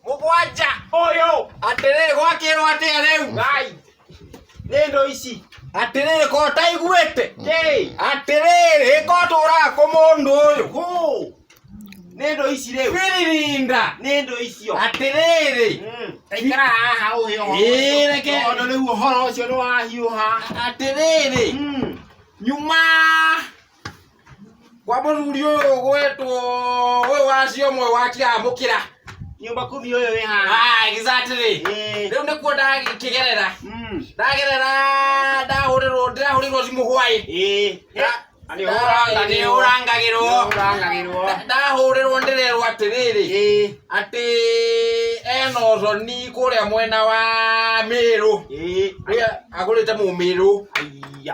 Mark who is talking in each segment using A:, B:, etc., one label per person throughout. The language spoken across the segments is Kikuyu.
A: mũgwanja ũyũ atĩrĩ gwakĩrwo atĩa rĩu ngai nĩ ndũ ici atĩrĩrĩ ko taiguĩte kĩ atĩrĩrĩ ko tũraga kũ mũndũ ũyũ hũ nĩ ndũ ici rĩu wĩririnda nĩ ndũ icio atĩrĩrĩ Mm. taikara haha ũhĩ Ĩĩ, reke. tondũ rĩu ũhoro ũcio nĩ wahiũha atĩrĩrĩ Mm. nyuma kwa mũthuri ũyũ gwetwo ũyũ wacio ũmwe wakĩamũkĩra nyumba kumi ũyũ wĩ haha Ah, exactly Eh, rĩu nĩkuo ndakĩgerera mm, ndagerera ndahũrĩrwo ndĩrahũrĩrwo thimũ hwaĩ eh, eh, nĩũrangagĩrwo. nĩũrangagĩrwo Nĩũrangagĩrwo. Nda- ndahũrĩrwo ndĩrerwo atĩrĩrĩ Eh, atĩ ena ũthoni kũrĩa mwena wa mĩrũ eh, ũrĩa agũrĩte mũmĩrũ ai,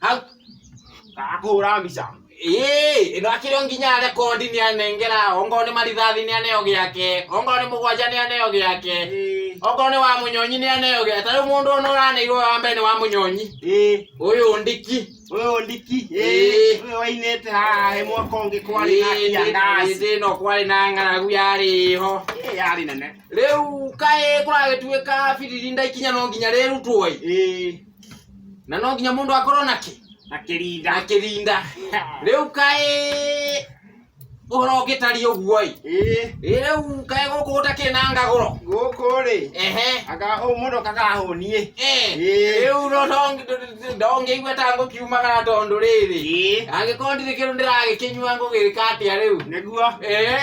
A: hau kakũhũra mbica ĩĩ ĩno akĩrĩ o nginya rekondi nĩ anengera ongorwo nĩ marithathi nĩ aneo gĩake ongorwo nĩ mũgwanja nĩ aneo gĩake Ĩĩ. ongorwo nĩ wa mũnyonyi nĩ aneo gĩake ta rĩu mũndũ ũno ũraneirwo wa mbere nĩ wa mũnyonyi Ĩĩ. ũyũ ndiki Ũyũ ndiki. Ĩĩ. Ĩĩ. Ũyũ wainĩte haha he mwaka ũngĩ kwarĩ na kia ngaci. ĩndĩ ĩno kwarĩ na ng'aragu yarĩ ho Ĩĩ yarĩ nene. rĩu kaĩ kũragĩtuĩka biririnda ikinya no nginya rĩrutwo ĩ Ĩĩ. na no nginya mundu akorwo na ki na kirinda na kirinda riu kai uhoro ngitari uguo i eh riu kai guku gutakiri na ngaguro guku ri ehe aka u mundu kakahonie Eh, Ĩĩ. rĩu no ndong- ndongĩigua ta ngũkiumagara tondũ rĩrĩ eh angĩkorwo ndirĩ kĩndũ ndĩragĩkĩnyua ngũgĩka atĩa rĩu niguo Eh. eh